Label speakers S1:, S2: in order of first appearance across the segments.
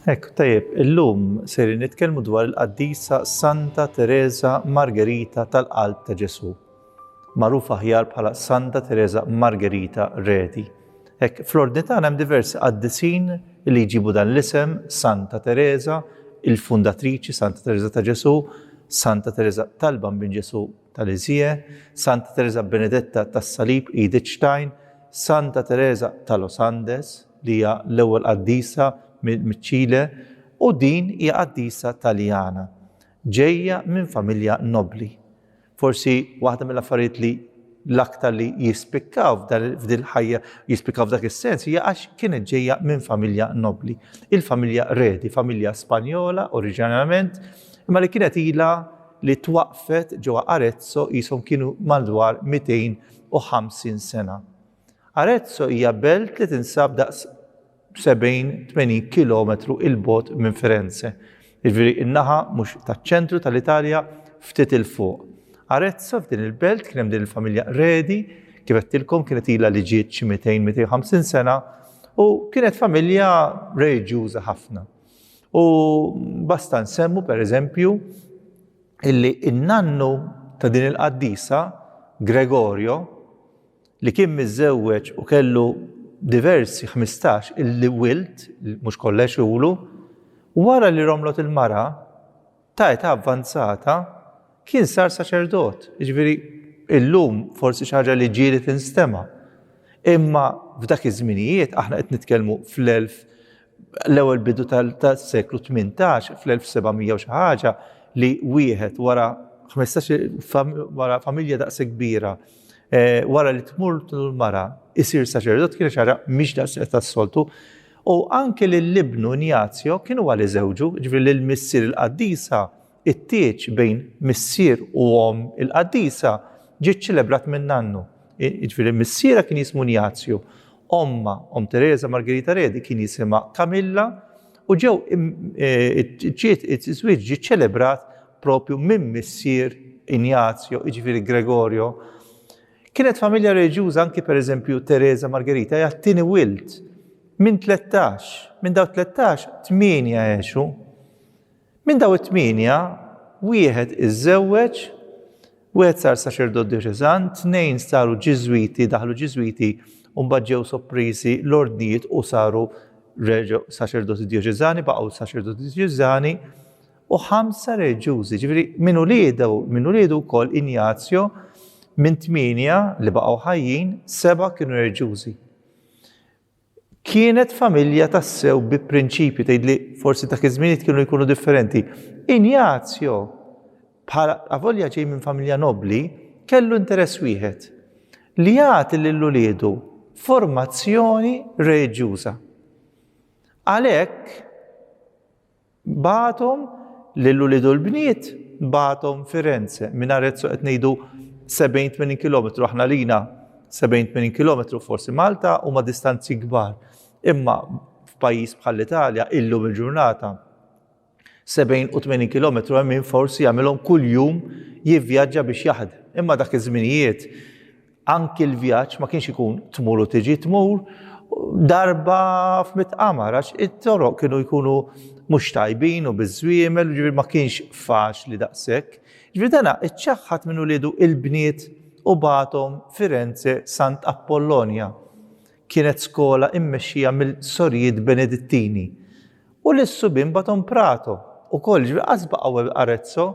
S1: Ek, tajjeb, illum ser nitkellmu dwar il-qaddisa Santa Teresa Margherita tal-Qalb ta' Ġesu. magħruf aħjar bħala Santa Tereża Margherita Reti. Hekk fl-ordni tagħna hemm diversi qaddisin li jġibu dan l-isem Santa Tereża, il-fundatriċi Santa Tereża ta' Ġesù, Santa Tereża tal-Bambin Ġesù tal-Iżje, Santa Tereża Benedetta tas-Salib Edith Stein, Santa Tereża ta' Los Andes li hija l-ewwel qaddisa miċ-Ċile u din hija qaddisa Taljana ġejja minn familja nobbli. Forsi waħda mill-affarijiet li l-aktar li jispikkaw f'dil ħajja, jispikkaw f'dak is-sens, hija għax kienet ġejja minn familja nobli. Il-familja Redi, familja Spanjola oriġinarjament, imma li kienet ilha li twaqfet ġewwa Arezzo qishom kienu madwar 250 sena. Arezzo hija belt li tinsab daqs 70, 80 kilometru 'il bogħod minn Firenze. Jiġifieri in-naħa mhux taċ-ċentru tal-Italja ftit 'il fuq. Arezzo f'din il-belt kien hemm din il-familja Redi, kif għedtilkom kienet ilha li ġiet xi 200, 250 sena u kienet familja reliġjuża ħafna. U basta nsemmu pereżempju illi in-nannu ta' din il-qaddisa Gregorio li kien miżżewweġ u kellu diversi ħmistax il-wild, mhux kollha jxulu, wara li romlot il-mara ta' età avvanzata kien sar saċerdot. Jiġifieri illum forsi xi ħaġa li ġieli tinstema'. Imma f'dak iż-żminijiet aħna qed nitkellmu fl-elf l-ewwel bidu tas-seklu 18 fl-1700 u xi ħaġa li wieħed wara 15 wara familja daqshekk kbira wara li tmur l-mara isir saċerdot kien xara mhix daqshekk tas-soltu. U anke lill-ibnu Ignazio kienu għal iżewġu, ġifri lil missier il-qaddisa, it-tieġ bejn missier u om il-qaddisa ġiet ċelebrat minn nannu. Ġifri missiera kien jismu Ignazio Ommha, Omm Tereża Margherita Redi, kien jisimha Camilla u ġew ġiet iż-żwieġ ġie ċċelebrat proprju minn missier Ignazio, jiġifieri Gregorio. Kienet familja reliġjuża anki pereżempju Tereża Margherita hija t-tieni wild minn tlettax. Minn dawn it-tlettax, tmienja għexu. Minn dawn it-tmienja, wieħed iżżewweġ, wieħed sar saċerdot djoċeżan, tnejn saru Ġiżwiti, daħlu Ġiżwiti u mbagħad ġew soppriżi l-ordnijiet u saru reġgħu saċerdoti djoċeżani, baqgħu saċerdoti djoċeżani, u ħamsa reliġjużi. Ġifieri minn uliedu, minn uliedu wkoll Injazjo minn tmienja li baqgħu ħajjin, seba' kienu reliġjużi. Kienet familja tassew bi prinċipji, tgħidli forsi dak iż-żminijiet kienu jkunu differenti. Injazio, bħala avolja ġej minn familja nobbli, kellu interess wieħed, li jagħti lil uliedu formazzjoni reliġjuża. Għalhekk, Bagħathom lil ulied u l-bniet bagħathom Firenze. Minn Arezzo qed ngħidu 70-80 kilometru, aħna lina 70-80 kilometru forsi Malta huma distanzi kbar. Imma f'pajjiż bħall-Italja illum il-ġurnata 70 u 80 km hemm min forsi jagħmilhom kuljum jivvjaġġa biex jaħdem. Imma dak iż-żminijiet Anki l-vjaġġ ma kienx ikun tmur u tiġi, tmur darba f'mitt qamar għax it-toroq kienu jkunu mhux tajbin u biż-żwiemel, ġifieri ma kienx faċli daqshekk. Ġifieri dana iċċaħħad minn uliedu l-bniet u bagħathom Firenze Sant' Appollonja. Kienet skola immexxija mill-Sorijiet Benedittini. U lis-subien bagħathom Prato, ukoll, ġifieri qatt baqgħu Arezzo.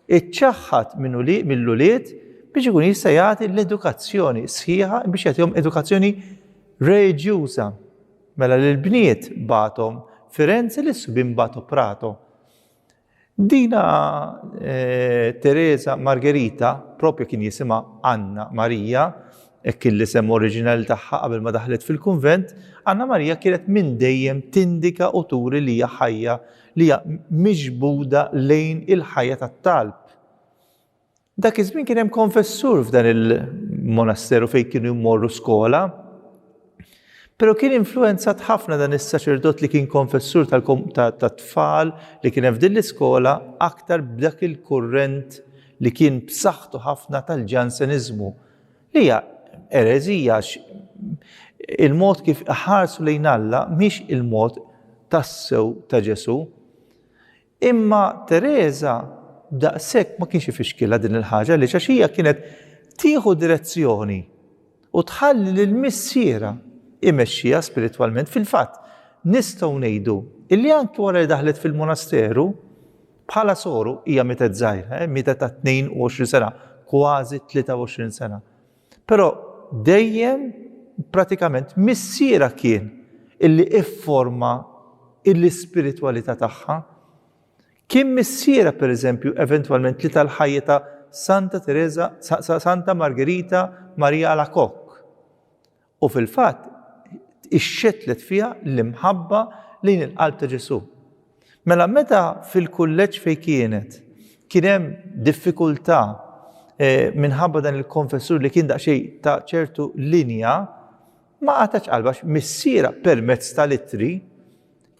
S1: iċċaħħad mill-ulied biex ikun jista' jagħti l-edukazzjoni sħiħa biex jagħtihom edukazzjoni reġjuża. Mela l-bniet batom Firenze li subin batu Prato. Dina eh, Teresa Margherita, propju kien jisima Anna Marija, hekk li sem oriġinali tagħha qabel ma daħlet fil-kunvent, Anna Marija kienet minn dejjem tindika u turi li hija ħajja li hija miġbuda lejn il-ħajja tat-talb. Dak iż-żmien kien hemm konfessur f'dan il-monasteru fejn kienu jmorru skola. Pero kien influenzat ħafna dan is-saċerdot li kien konfessur tat-tfal li kien f'din l-iskola aktar b'dak il-kurrent li kien b'saħħtu ħafna tal-ġanseniżmu. Li hija ereżija għax il-mod kif iħarsu lejn Alla mhix il-mod tassew ta' Ġesù. Imma Tereża daqshekk ma kienx ifixkilha din il-ħaġa għaliex għax hija kienet tieħu direzzjoni u tħalli lil missierha imexxiha spiritwalment. Fil-fatt, nistgħu ngħidu illi anki wara li daħlet fil-monasteru, Bħala soru hija mietet żgħira, eh, mietet ta' 22 sena, kważi 23 sena. Però dejjem pratikament missiera kien illi ifforma l-ispiritwalità tagħha. Kien missiera pereżempju eventwalment li tal-ħajja ta' Santa Teresa, Santa Margherita Maria Alacoque. U fil-fatt, ixxettlet fiha l-imħabba lejn il-qalb ta' Ġesù. Mela meta fil-kulleġġ fejn kienet kien hemm diffikultà minħabba dan il-konfessur li kien daqsxejn ta' ċertu linja, ma qatgħetx qalbha għax missierha permezz tal-ittri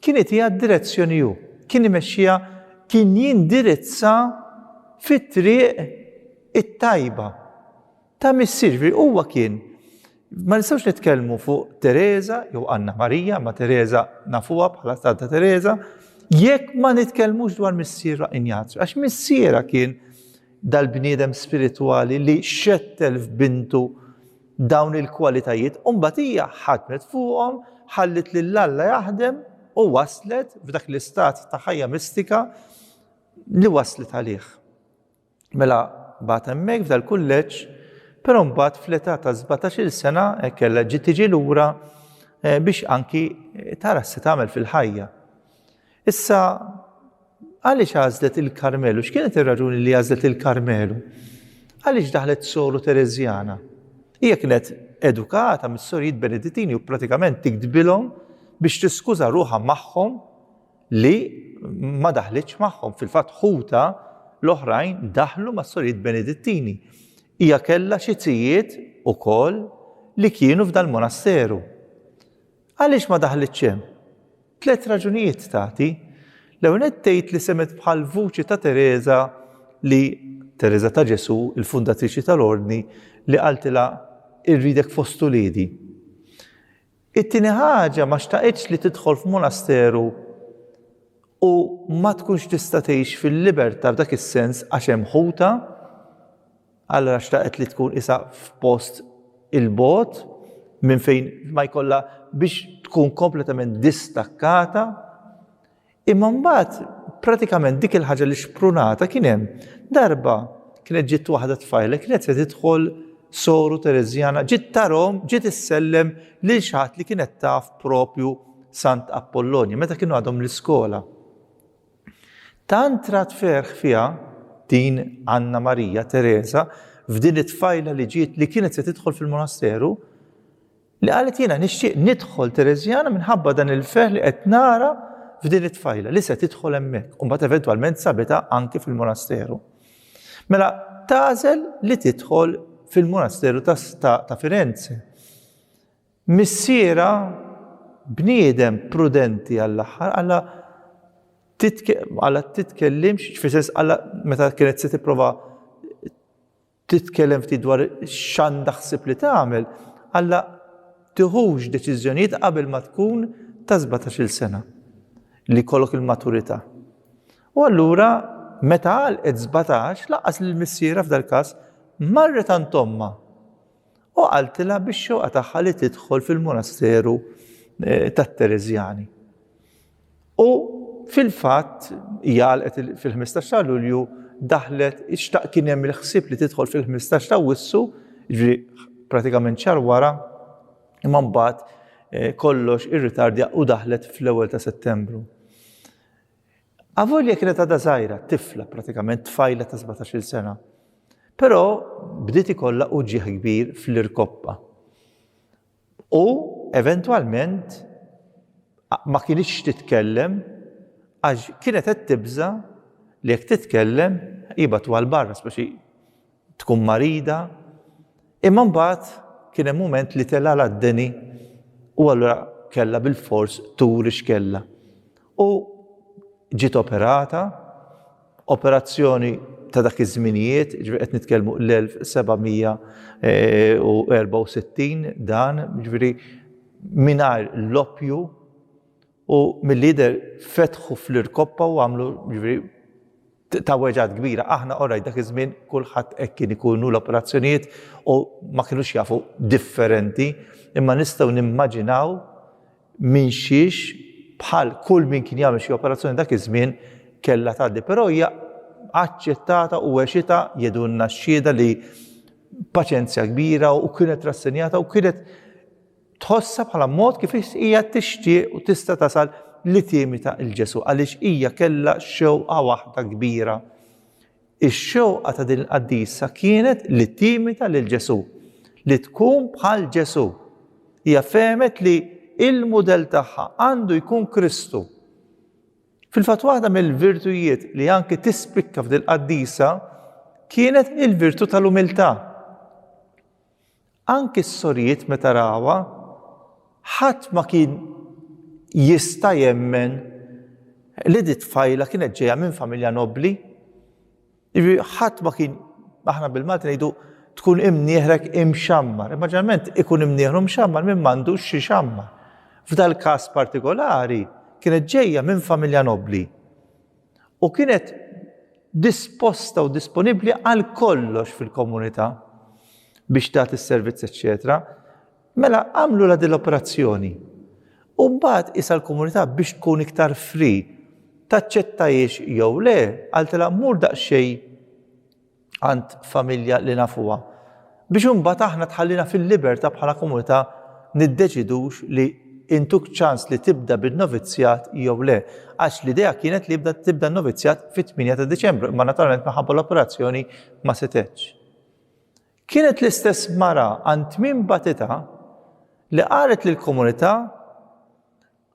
S1: kien itiha d-direzzjoni hu, kien imexxiha, kien jindirizza fit-triq it-tajba. Ta' missier, ġifieri huwa kien ma nistgħux nitkellmu fuq Teresa jew Anna Marija, ma Teresa nafuha bħala Santa Teresa, jekk ma nitkellmux dwar missierha Injazju, għax missierha kien dal-bniedem spiritwali li xettel f'bintu dawn il-kwalitajiet, u mbagħad hija ħadmet fuqhom, ħallit lil Alla jaħdem u waslet f'dak l-istat ta' ħajja mistika li waslet għalih. Mela bagħat hemmhekk f'dal-kulleġġ, però mbagħad fl-età ta' sbatax-il sena hekk kellha ġiet tiġi lura eh, biex anki tara se tagħmel fil-ħajja. Issa għaliex għażlet il-Karmelu? X'kienet ir-raġuni li għażlet il-Karmelu? Għaliex daħlet soru Terezjana? Hija kienet edukata mis-sorijiet Benedittini u pratikament tiktbilhom biex tiskuża ruħha magħhom li ma daħlitx magħhom. Fil-fatt ħuta l-oħrajn daħlu mas-sorijiet Benedittini. Hija kellha xi tijiet ukoll li kienu f'dal-monasteru. Għaliex ma daħlitx hemm? Tliet raġunijiet tagħti. L-ewwel nett tgħid li semgħet bħal vuċi ta' Tereża li Tereża ta' Ġesù, il-fundatriċi tal-Ordni, li qaltilha irridek fost uliedi. It-tieni ħaġa ma xtaqitx li tidħol f'monasteru u ma tkunx tista' tgħix fil-liberta' f'dak is-sens għax hemm ħutha, allura xtaqet li tkun qisha f'post 'il bogħod minn fejn ma jkollha biex tkun kompletament distakkata. Imma mbagħad pratikament dik il-ħaġa li xprunata kien hemm darba kienet ġiet waħda tfajla kienet se tidħol soru Tereżjana ġiet tarhom ġiet issellem lil xi ħadd li kienet taf propju Sant Apollonju meta kienu għadhom l-iskola. Tant rat ferħ fiha din Anna Marija Tereża f'din it-tfajla li ġiet li kienet se tidħol fil-monasteru Li qalet jiena nixtieq nidħol Tereżjana minħabba dan il-ferħ li qed nara f'din it-tfajla li se tidħol hemmhekk u mbagħad eventwalment sabitha anki fil-monasteru. Mela tagħżel li tidħol fil-monasteru ta' Firenze. Missiera bniedem prudenti għall-aħħar għalla għalla titkellimx, fil-sens għalla meta kienet se tipprova Trid tkellem ftit dwar x'għandha ħsieb li tagħmel, alla tiħux deċiżjonijiet qabel ma tkun ta' sbatax-il sena, li jkollok il-maturità. U allura meta għalqet sbatax, lanqas lil missierha f'dal-każ, marret għand ommha u qaltilha bix-xewqa tagħha li tidħol fil-monasteru eh, tat-Tereżjani. U fil-fatt hija għalqet fil-15 ta' Lulju daħlet ixtaq kien hemm il-ħsieb li tidħol fil-15 ta' Wissu, ġri pratikament xar wara, imma mbagħad eh, kollox irritardja u daħlet fl-ewwel ta' Settembru. Avolja kienet għadha żgħira, tifla pratikament tfajla ta' 17-il sena. Però bdiet ikollha uġieħ kbir fl-irkoppa. U eventwalment ma kinitx titkellem għax kienet qed tibża' li jekk titkellem jibgħatu għal barra speċi tkun marida. Imma mbagħad kien hemm mument li telgħalha d-deni u allura kellha bilfors turi x'kellha. U ġiet operata Operazzjoni ta' dak iż-żminijiet, ġifieri qed nitkellmu l-1764 dan, ġifieri mingħajr l-oppju u milli jidher fetħu fl-irkoppa u għamlu ġifieri ta' weġgħat kbira. Aħna orajt dak iż-żmien kulħadd hekk kien ikunu l-operazzjonijiet u ma kinux jafu differenti imma nistgħu nimmaġinaw minxiex bħal kull min kien jagħmel xi operazzjoni dak iż-żmien kellha tgħaddi, però hija aċċettata u għexita jedunna x-xhieda li paċenzja kbira u kienet rassenjata u kienet tħossha bħala mod kif hija tixtieq u tista' tasal li timita il-Ġesu għaliex hija kellha xewqa waħda kbira Ix-xewqa ta' din il-qaddisa kienet li timita lil Ġesù, li tkun bħal Ġesù. Hija fehmet li l-mudell tagħha għandu jkun Kristu. Fil-fatt waħda mill-virtujiet li anki tispikka f'dil-qaddisa kienet il-virtù tal-umiltà. Anki s-sorijiet meta rawha, ħadd ma kien jista' jemmen li di tfajla kienet ġejja minn familja nobbli. Jiġri ħadd ma kien aħna bil-Malti ngħidu tkun imnieħrek imxammar. Imma ġeneralment ikun imnieħru mxammar minn m'għandux xi xammar. F'dal-każ partikolari kienet ġejja minn familja nobbli. u kienet disposta u disponibbli għal kollox fil-komunità biex tagħti s-servizz, eċċetera. Mela għamlu la din l-operazzjoni. U mbagħad isa l-komunità biex tkun iktar fri taċċettajiex jew le, għaltilha mur daqsxejn għand familja li nafuha. Biex imbagħad aħna tħallina fil-libertà bħala komunità niddeċidux li intuk ċans li tibda bin-novizzjat jew le. Għax l-idea kienet li jibda tibda n-novizzjat fit-8 ta' Diċembru, imma naturalment minħabba l-operazzjoni ma setgħetx. Kienet l-istess mara għand tmiem batitha li qalet lill-komunità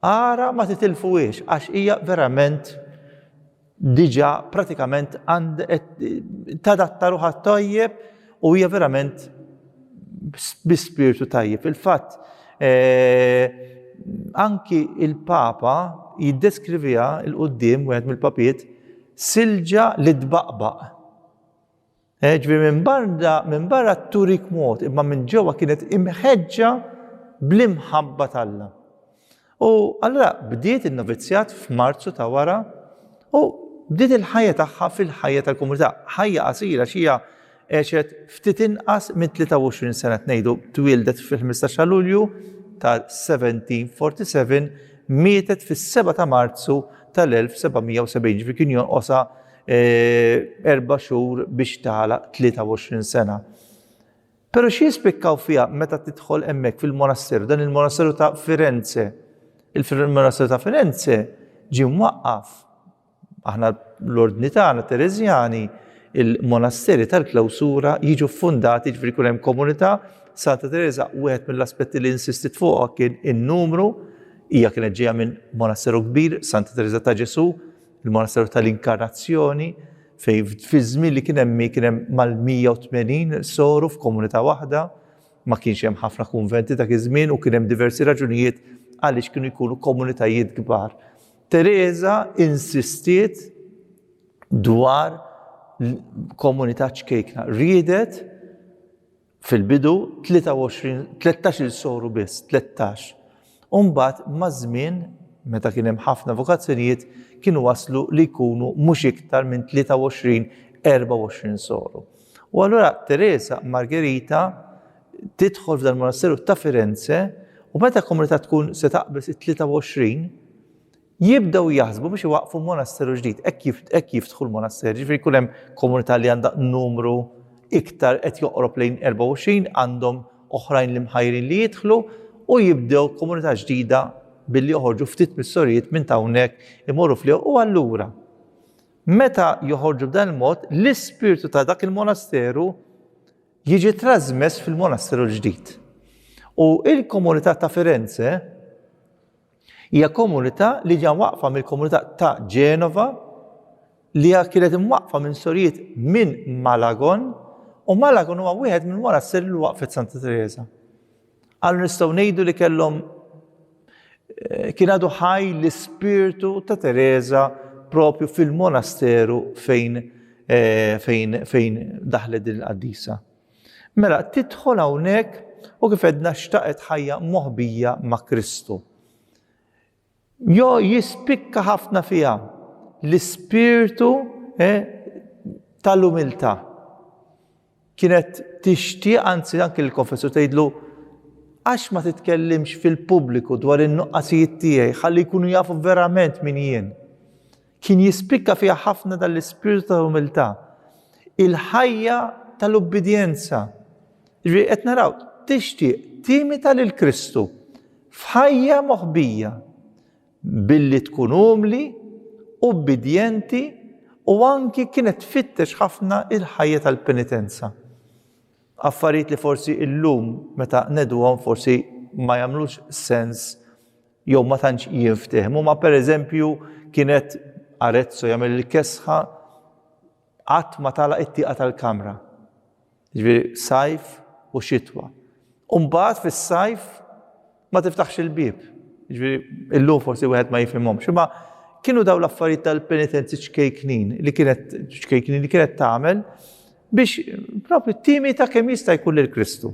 S1: Ara ma titilfuhiex għax hija verament diġà pratikament tadatta ruħha tajjeb u hija verament bi spirtu tajjeb. Fil-fatt, eh, anki il-Papa jiddeskriviha il-quddiem, wieħed mill-papiet, silġa li tbaqbaq. Eh, ġifieri minn barra minn barra turik mod, imma minn ġewwa kienet imħeġġa bl-imħabba tal-Alla. U allura bdiet in-novizjat f'Marzu ta' wara u bdiet il-ħajja tagħha fil-ħajja tal-komunità. Ħajja qasira xija għexet ftit inqas minn 23 sena tnejdu twildet fil-15 ta' Lulju ta' 1747 mietet fis-7 ta' Marzu tal-1770 ġifi kien jonqosa erba' xhur biex tagħlaq 23 sena. Pero xie jispikkaw fija meta tidħol emmek fil-monasteru, dan il-monasteru ta' Firenze. Il-monasteru ta' Firenze ġi mwaqqaf. Aħna l-ordni tagħna Terezjani, il-monasteri tal-klawsura jiġu fundati ġifri kunem hemm komunità. Santa Teresa wieħed mill-aspetti li insistit fuqha kien in-numru, hija kienet ġejja minn monasteru kbir, Santa Teresa ta' Ġesu, Il-Monasteru tal-Inkarnazzjoni fejn fiż-żmien li kien hemm hi kien hemm mal-180 soru f'komunità waħda, ma kienx hemm ħafna kunventi dak iż-żmien u kien hemm diversi raġunijiet għaliex kienu jkunu komunitajiet kbar. Tereża insistiet dwar komunità ċkejkna, riedet Fil-bidu, 23, 13-il soru biss, 13. U mbagħad maż-żmien, meta kien hemm ħafna vokazzjonijiet, kienu waslu li jkunu mhux iktar minn 23, 24 soru. U allura Teresa Margherita tidħol f'dan il-monasteru ta' Firenze u meta komunità tkun se taqbeż it-23, jibdew jaħsbu biex iwaqqfu monasteru ġdid, hekk jiftħu l-monaster, ġifieri jkun hemm komunità li għandha numru iktar qed joqrob lejn 24 għandhom oħrajn li mħajrin li jidħlu u jibdew komunità ġdida billi joħorġu ftit mis-sorijiet minn hawnhekk imorru fl u allura meta joħorġu b'dan il-mod l-ispirtu ta' dak il-monasteru jiġi trasmess fil-monasteru l-ġdid. U il-komunità ta' Firenze Hija komunità li ġa mwaqqfa mill-komunità ta' Genova li hija kienet imwaqqfa minn sorijiet minn Malagon u Malagon huwa wieħed minn wara s-seri li waqfet Santa Teresa. Għallu nistgħu ngħidu li kellhom eh, kien għadu ħaj l-ispirtu ta' Teresa propju fil-monasteru fejn eh, fejn fejn daħlet din il-qaddisa. Mela, tidħol hawnhekk u kif għedna xtaqet ħajja moħbija ma' Kristu. Jo jispikka ħafna fiha l-ispirtu eh, tal-umiltà. Kienet tixtieq anzi anke l-konfessu tgħidlu għax ma titkellimx fil-pubbliku dwar in-nuqqasijiet tiegħi ħalli jkunu jafu verament min jien. Kien jispikka fiha ħafna dan l-ispirtu ta' umiltà, il-ħajja tal-ubbidjenza. Ġifieri qed naraw, tixtieq timita lil Kristu f'ħajja moħbija billi tkun umli, ubbidjenti u anki kienet tfittex ħafna il-ħajja tal-penitenza. Affarijiet li forsi illum meta nedwhom forsi ma jagħmlux sens jew ma tantx jinftehmu, ma pereżempju kienet Arezzo jagħmel il-kesħa qatt ma tagħlaq it-tieqa tal-kamra. Ġifieri sajf u xitwa. U mbagħad fis-sajf ma tiftaħx il-bieb. Ġifieri illum forsi wieħed ma jifhimhomx. Imma kienu daw l-affarijiet tal-penitenzi ċkejknin li kienet ċkejknin li kienet tagħmel biex propri timi ta' kemm jista' jkun lil Kristu.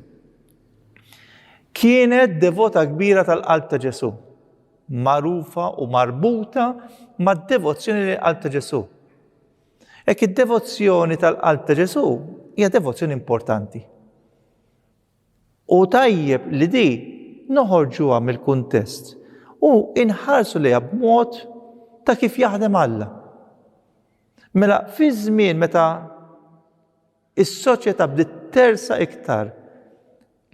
S1: Kienet devota kbira tal-qalb ta' Ġesù, magħrufa u marbuta mad-devozzjoni lejn qalb ta' Ġesù. Ek id-devozzjoni tal-qalb ta' Ġesù hija devozzjoni importanti. U tajjeb li di noħorġuha mill-kuntest u inħarsu li b'mod ta' kif jaħdem Alla. Mela, fi żmien meta Is-soċjetà bdiet tersaq iktar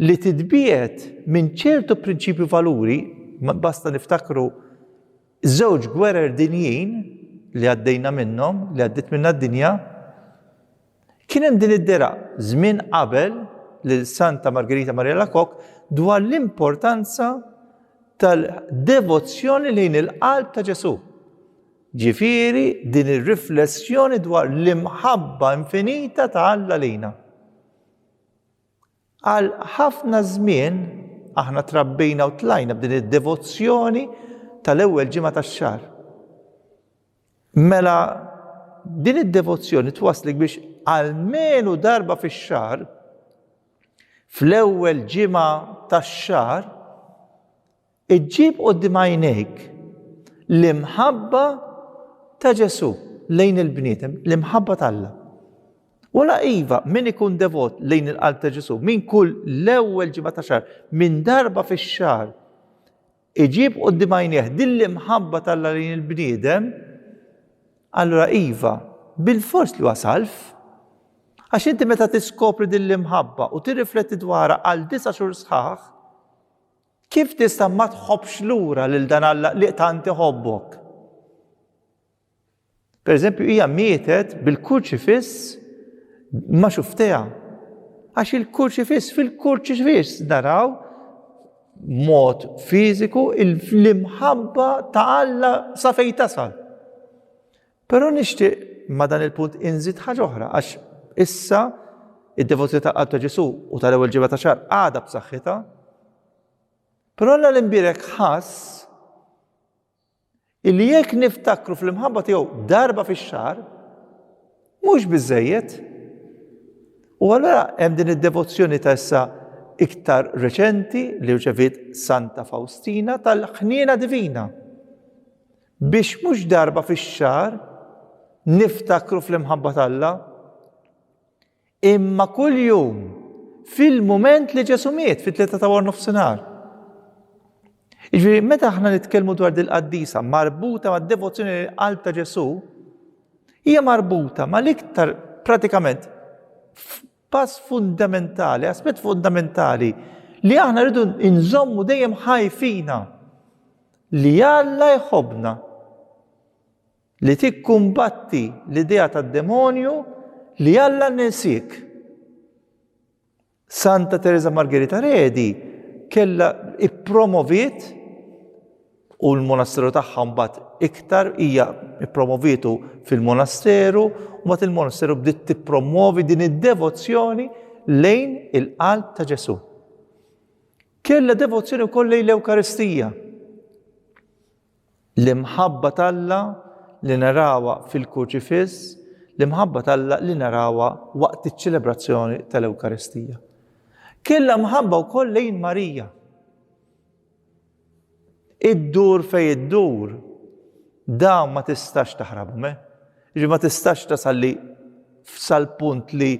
S1: li titbiegħed minn ċertu prinċipji u valuri, basta niftakru żewġ gwerer dinjin li għaddejna minnhom, li għaddiet minnha d-dinja, kien hemm din id-dera żmien qabel lil Santa Margherita Maria Alacoque dwar l-importanza tal-devozzjoni lejn il-qalb ta' Ġesù. Ġifieri din ir-riflessjoni dwar l-imħabba infinita ta' Alla lejna. Għal ħafna żmien aħna trabbejna u tlajna b'din id-devozzjoni tal-ewwel ġimgħa tax-xahar. Mela din id-devozzjoni twasslek biex għalmenu darba fix-xahar fl-ewwel ġimgħa tax-xahar Iġġib quddiem għajnejk l-imħabba ta' Ġesù lejn il-bniedem, l-imħabba t'Alla. Wala iva, min ikun devot lejn il-qalb ta' Ġesù, min kull l-ewwel ġimgħa ta' xahar, minn darba fix-xahar, iġib quddiem għajnejh din l-imħabba t'Alla lejn il-bniedem, allura iva, bil-fors li huwa salv. Għax inti meta tiskopri din l-imħabba u tirrifletti dwarha għal disa' xhur sħaħ, Kif tista' ma tħobbx lura lil dan Alla li tant iħobbok? Pereżempju, hija mietet bil-kurċifiss ma' xuftejha. Għax il-kurċifiss fil-kurċifiss naraw mod fiżiku l-imħabba ta' Alla sa fejn tasal. Però nixtieq ma' dan il-punt inżid ħaġa oħra għax issa id-devozzjoni tal-Qalb ta' Ġesù u tal-ewwel ġimgħa ta' xahar għadha b'saħħitha. Però Alla l-Imbierek ħass illi jekk niftakru fl-imħabba tiegħu darba fix-xahar mhux biżejjed. U allura hemm din id-devozzjoni ta' issa iktar reċenti li rċevit Santa Faustina tal-ħniena divina. Biex mhux darba fix-xahar niftakru fl-imħabba t'Alla, imma kuljum fil-mument li Ġesu miet fit-tlieta ta' war nofsinhar. Iġifieri meta aħna nitkellmu dwar dil-qaddisa marbuta mad-devozzjoni lil qalb ta' Ġesu, hija marbuta mal-iktar pratikament Pass fundamentali, aspett fundamentali li aħna rridu nżommu dejjem ħajfina li Alla jħobna li tikkumbatti l-idea tad-demonju li Alla nesik. Santa Teresa Margherita Redi kella ippromoviet u l-monasteru tagħha mbagħad iktar hija ppromovietu fil-monasteru u mbagħad il-monasteru bdiet tippromwovi din id-devozzjoni lejn il-qalb ta' Ġesù. Kellha devozzjoni wkoll lejn l-Ewkaristija. L-imħabba talla li narawa fil-Kurċifiss, l-imħabba talla li narawa waqt iċ-ċelebrazzjoni tal-Ewkaristija. Kellha mħabba wkoll lejn Marija Iddur fejn iddur, dawn ma tistax taħrabhom, eh? Ġi ma tistax tasal li sal-punt li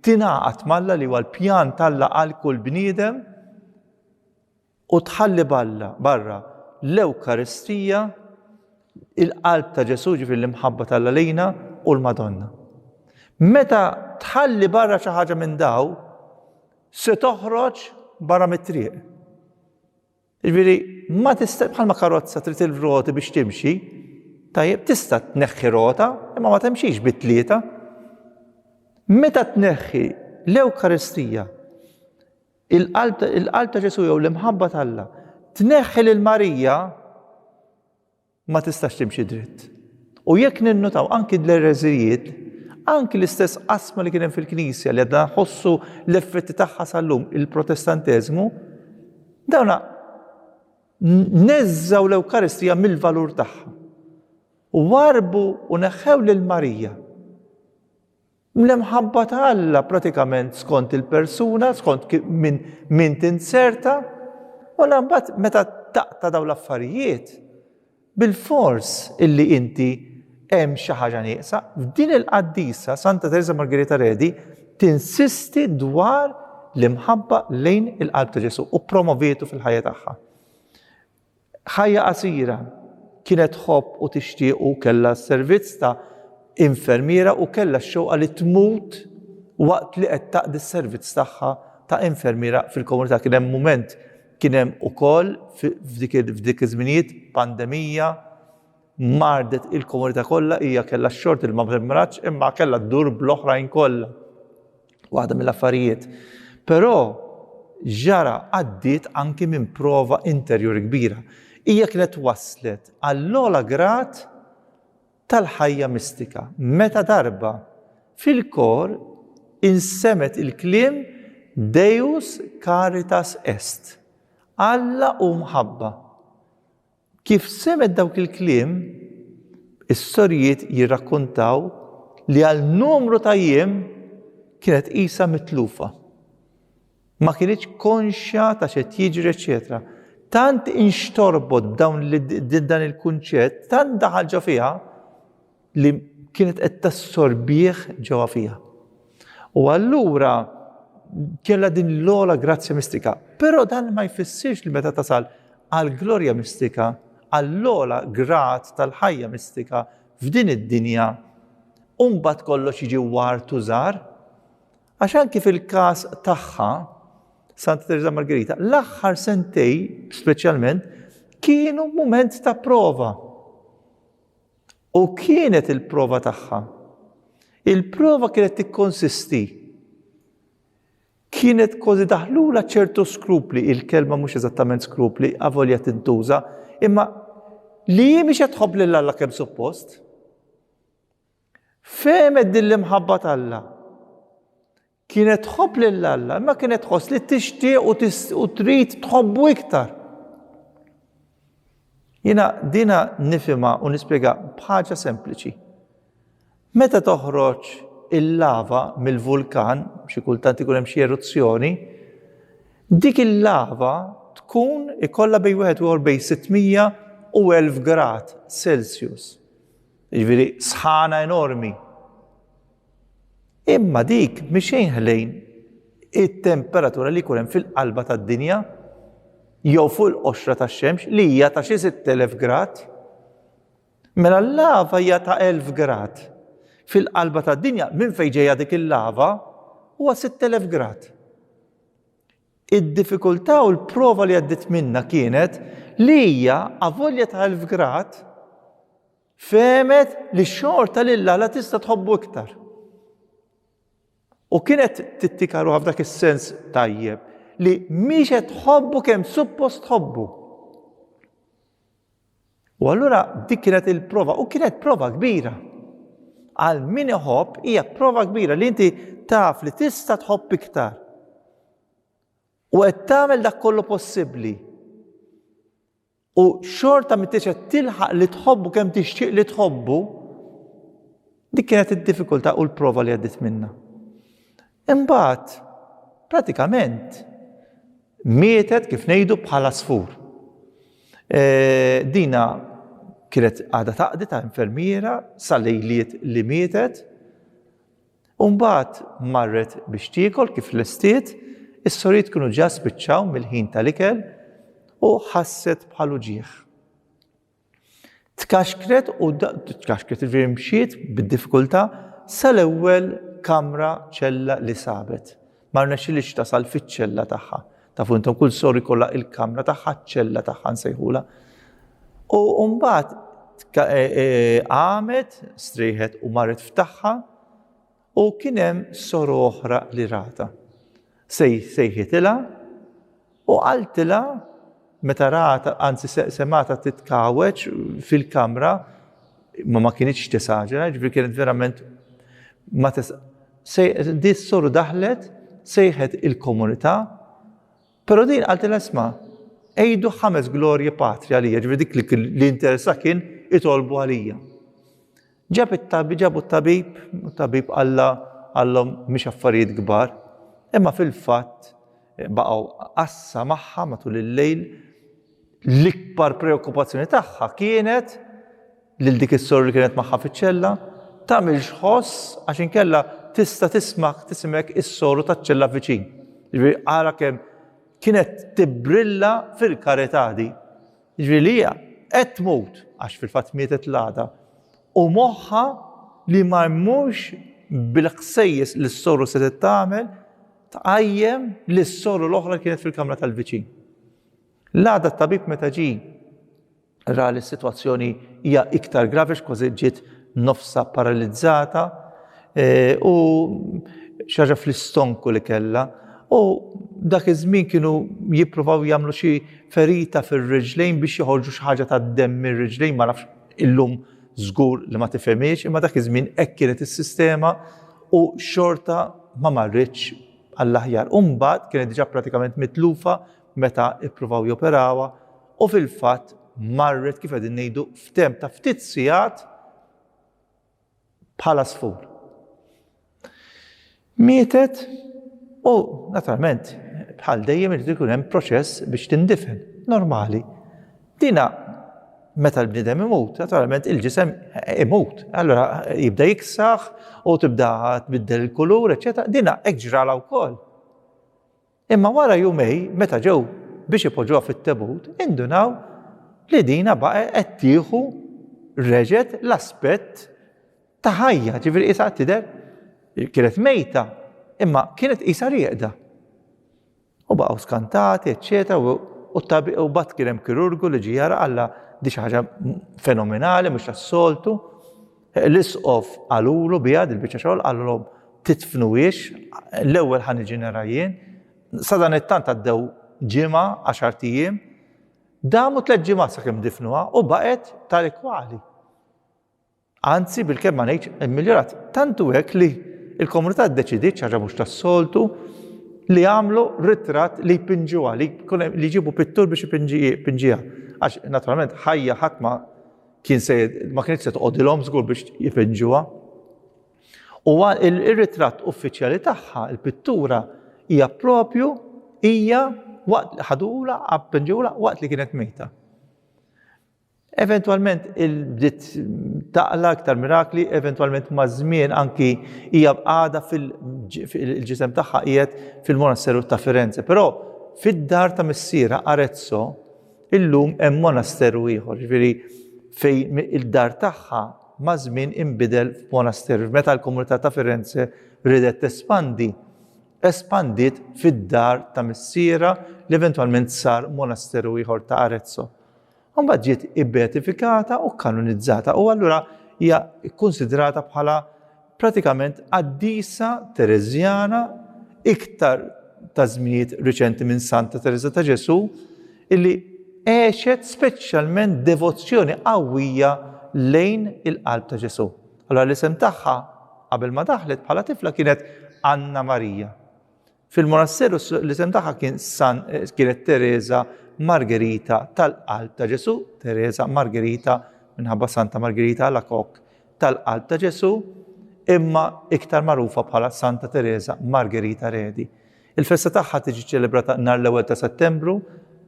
S1: tingħaqad malla li huwa l-pjan talla għal kull bniedem u tħalli balla barra l-Ewkaristija il-qalb ta' Ġesu ġifir l-imħabba talla lejna u l-Madonna. Meta tħalli barra xi ħaġa minn daw, Se toħroġ barra mit-triq. Jiġifieri ma tista' bħalma karozza trid il-roti biex timxi, tajjeb tista' tneħħi rota imma ma timxix bi tlieta. Meta tneħħi l-Ewkaristija, il-qalb ta' Ġesu jew l-imħabba t'Alla, tneħħi lil Marija ma tistax timxi dritt. U jekk ninnutaw anki l-ereżijiet, anki l-istess qasma li kien hemm fil-Knisja li għadna nħossu l-effetti tagħha sal-lum il-Protestanteżmu, dawna neżżaw l-Ewkaristija mill-valur tagħha. U warbu u neħħew lil Marija. L-imħabba ta' Alla pratikament skont il-persuna, skont min, min tinzerta, u l-ambat meta taqta daw l-affarijiet, bil-fors illi inti hemm xi ħaġa nieqsa, f'din il-qaddisa Santa Teresa Margherita Redi tinsisti dwar l-imħabba lejn il-qalb ta' Ġesu u promovietu fil-ħajja tagħha. Ħajja qasira, kienet tħobb u tixtieq u kellha s-servizz ta' infermiera u kellha x-xewqa li tmut waqt li qed taqdi s-servizz tagħha ta' infermiera fil-komunità. Kien hemm mument, kien hemm ukoll f'dik iż-żminijiet pandemija, mardet il-komunità kollha, hija kellha x-xort il ma mrimratx imma kellha ddur bl-oħrajn kollha. waħda mill-affarijiet. Però ġara għaddiet anki minn prova interjuri kbira. Hija kienet wasslet għall-ogħla grad tal-ħajja mistika meta darba fil-kor insemgħet il-kliem Deus caritas est, Alla hu mħabba. Kif semgħet dawk il-kliem, is-sorijiet jirrakkuntaw li għal numru ta' jiem kienet qisha mitlufa. Ma kienitx konxja ta' x'qed jiġri, eċetera. Tant inxtorbot dan il-kunċett, tant daħal ġo fiha, li kienet qed tassorbih ġewwa fiha. U allura kella din l-ola grazzja mistika. Però dan ma jfissirx li meta tasal għal glorja mistika, għall-ola grat tal-ħajja mistika f'din id-dinja, umbat kollox jiġi wart użar, għax anki fil-każ tagħha, Santa Teresa Margherita, l-aħħar sentej, speċjalment, kienu moment ta' prova. U kienet il-prova tagħha. Il-prova kienet tikkonsisti. Kienet kważi daħlula ċertu skrupli, il-kelma mhux eżattament skrupli, avolja tintuża, imma li hi mhix qed tħobb lil Alla kemm suppost. Femet din l-imħabba t'Alla. Kienet tħobb lil Alla, imma kienet tħoss li tixtieq u trid tħobbu iktar. Jiena dina nifima u nispjega bħaġa sempliċi. Meta toħroġ il-lava mill-vulkan, xi kultant ikun hemm xi eruzzjoni, dik il-lava tkun ikollha bej wieħed u bej 600 u 1000 grad Celsius. Jiġifieri sħana enormi. Imma dik mhix xejn ħlejn it-temperatura li jkun hemm fil-qalba tad-dinja jew fuq il-qoxra tax-xemx li hija ta' xi 6000 grad. Mela l-lava hija ta' 1000 grad. Fil-qalba tad-dinja minn fejn ġejja dik il-lava huwa 6000 grad. Id-diffikultà u l-prova li għaddiet minna kienet li hija avolja ta' 1000 grad Fehmet li xorta lil Alla tista' tħobbu iktar. U kienet tittikaru f'dak is-sens tajjeb li mhix qed tħobbu kemm suppost tħobbu. U allura dik kienet il-prova, u kienet prova kbira. Għal min iħobb hija prova kbira li inti taf li tista' tħobb iktar. U qed tagħmel dak kollu possibbli u xorta ma tixet tilħaq li tħobbu kemm tixtieq li tħobbu, dik kienet id-diffikultà u l-prova li għaddit minna. Imbagħad, pratikament, mietet kif ngħidu bħala sfur. E, dina kienet għada taqdi ta' infermiera sa lejliet li mietet U mbagħad marret biex tiekol kif lestiet, is-sorijiet kienu ġa spiċċaw mill-ħin tal-ikel u ħasset bħal uġigħ. Tkaxkret u tkaxkret ġifieri mxiet bid-diffikultà sal-ewwel kamra ċella li sabet. Ma rnexxilix tasal fiċ-ċella tagħha. Tafu intom kull sor ikollha il-kamra tagħha, ċella tagħha nsejħula. U mbagħad e, e, qamet, strieħet u marret f'tagħha u kien hemm sor oħra li rata. Sejħitilha U qaltilha, meta ratha, anzi semgħatha titkawweġ fil-kamra, ma ma kienitx tesaġera, ġifieri kienet verament ma tes di s-soru daħlet sejħet il-komunità, però din qaltilha isma' għidu ħames glorje patri għalija, ġifieri dik li interessa kien itolbu għalija. Ġab it-tabib, ġabu t-tabib, u t-tabib qalla għallhom mhux affarijiet kbar, imma fil-fatt baqgħu qassa magħha matul il-lejl l-ikbar preokkupazzjoni tagħha kienet lil dik is-sor li kienet magħha fiċ-ċella tagħmilx xħoss għax inkella tista' tismak tisimek is-soru taċ-ċella viċin. Ġifieri ara kemm kienet tibbrilla fil-karità di. Jiġifieri li hija qed tmut, għax fil-fatt mietet l-għada, u moħħha li ma jmurx bil-ħsejjes li s-soru setgħet tagħmel tqajjem li s-soru l-oħra li kienet fil-kamra tal-viċin. L-għada t-tabib meta ġie ra li s-sitwazzjoni hija iktar gravi għax kważi ġiet nofsa paralizzata e, u xaġa fl-istonku li kella u dak iż-żmien kienu jippruvaw jagħmlu xi ferita fir-riġlejn biex joħorġu xi ħaġa tad-demm mir-riġlejn ma nafx illum żgur li ma tifhimiex imma dak iż-żmien hekk kienet is-sistema u xorta ma marritx għall-aħjar. Umbagħad kienet diġà pratikament mitlufa meta ippruvaw joperawha u fil-fatt marret kif qegħdin ngħidu f'temp ta' ftit sigħat bħala sfur. Mietet u naturalment bħal dejjem irid ikun hemm proċess biex tindifen, normali. Dina meta l-bniedem imut, naturalment il-ġisem imut, allora jibda jiksaħ u tibda tbiddel il-kulur, eċetera, dina hekk ġrala wkoll. Imma wara jumej meta ġew biex ipoġġuha fit-tebut indunaw li dinha baqgħet qed tieħu reġgħet l-aspett ta' ħajja, ġifieri qisha qed tidher kienet mejta imma kienet qisha rieqda. U baqgħu skantati, eċċetera, u u t-tabib u bat kien hemm kirurgu li ġie jara qalla di xi ħaġa fenomenali mhux tas-soltu. L-isqof qalulu biha dil-biċċa xogħol, qalilhom, Tidfnuhiex, l-ewwel ħa niġi nera jien. Sadanittant għaddew ġimgħa, għaxart ijiem, damu tliet ġimgħat sakemm difnuha u baqgħet tali kwali. Anzi, bilkemm ma ngħidx immiljorat, tantu hekk li l-komunità ddeċidiet xi ħaġa mhux tas-soltu li għamlu ritratt li jpinġuha, li jġibu pittur biex ipinġiha. Għax naturalment ħajja ħadd ma kien se ma kienx se toqgħodilhom żgur biex jifeġġuha. U ir-ritratt uffiċjali tagħha, il-pittura hija propju hija waqt li ħadula appenġula waqt li kienet mejta. Eventualment il-bdiet taqla iktar mirakli, eventualment ma' żmien anki hija bqada fil-ġisem tagħha qiegħed fil-monasseru ta' Firenze. Però fid-dar ta' missiera Arezzo Illum hemm monasteru ieħor, ġifieri fejn id-dar tagħha maż-żmien inbidel f'monasteru. Meta l-komunità ta' Firenze ridet tespandi, espandiet fid-dar ta' missierha li eventwalment sar monasteru ieħor ta' Arezzo. Mbagħad ġiet ibbeatifikata u kanonizzata u allura hija kkunsidrata bħala pratikament qaddisa Tereżjana iktar ta' żminijiet riċenti minn Santa Tereża ta' Ġesù, illi għexet speċjalment devozzjoni qawwija lejn il-Qalb ta' Ġesù. Allura l-isem tagħha qabel ma daħlet bħala tifla kienet Anna Marija. Fil-monasseru l-isem tagħha kien San kienet Teresa Margherita tal-Qalb ta' Ġesù, Teresa Margherita minħabba Santa Margherita Alacoque tal-Qalb ta' Ġesù, imma iktar magħrufa bħala Santa Teresa Margherita Redi. Il-festa tagħha tiġi ċelebrata nhar l-ewwel ta' Settembru,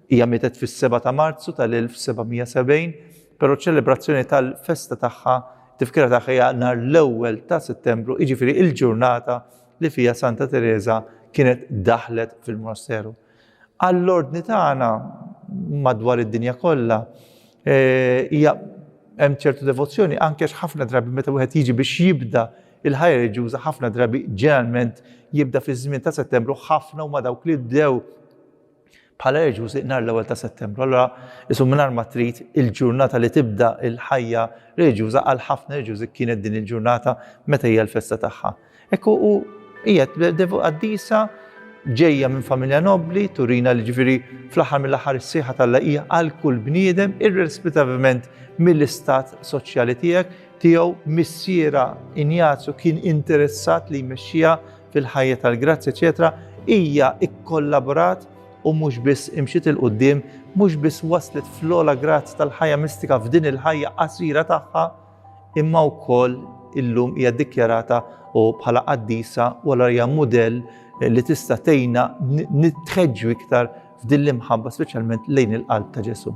S1: hija mietet fis-7 ta' Marzu tal-1770, però ċelebrazzjoni tal-festa tagħha tifkira tagħha hija nhar l-ewwel ta' Settembru, jiġifieri il-ġurnata li fiha Santa Tereża kienet daħlet fil-monasteru. Għall-ordni tagħna madwar id-dinja kollha eh, hija hemm ċertu devozzjoni anke ħafna drabi meta wieħed jiġi biex jibda il-ħajja reġjuża ħafna drabi ġeneralment jibda fiż-żmien ta' Settembru ħafna huma dawk li bdew bħala reġjus li nhar l-ewwel ta' Settembru. Allura isu mingħajr ma trid il-ġurnata li tibda l-ħajja reġjuża għal ħafna reġjużi kienet din il-ġurnata meta hija l-festa tagħha. Ekku u hija devu qaddisa ġejja minn familja nobbli, turina li ġifieri fl-aħħar mill-aħħar is-sieħa tal hija għal kull bniedem irrespettivament mill-istat soċjali tiegħek tiegħu missiera Injazju kien interessat li jmexxija fil-ħajja tal-grazzja eċetera, hija kkollaborat u mhux biss imxiet il quddiem mhux biss waslet fl-ogħla grazz tal-ħajja mistika f'din il-ħajja qasira tagħha, imma wkoll illum hija ddikjarata u bħala qaddisa u allura hija mudell li tista' tgħinna nitħeġġu iktar f'din l-imħabba speċjalment lejn il-qalb ta' Ġesù.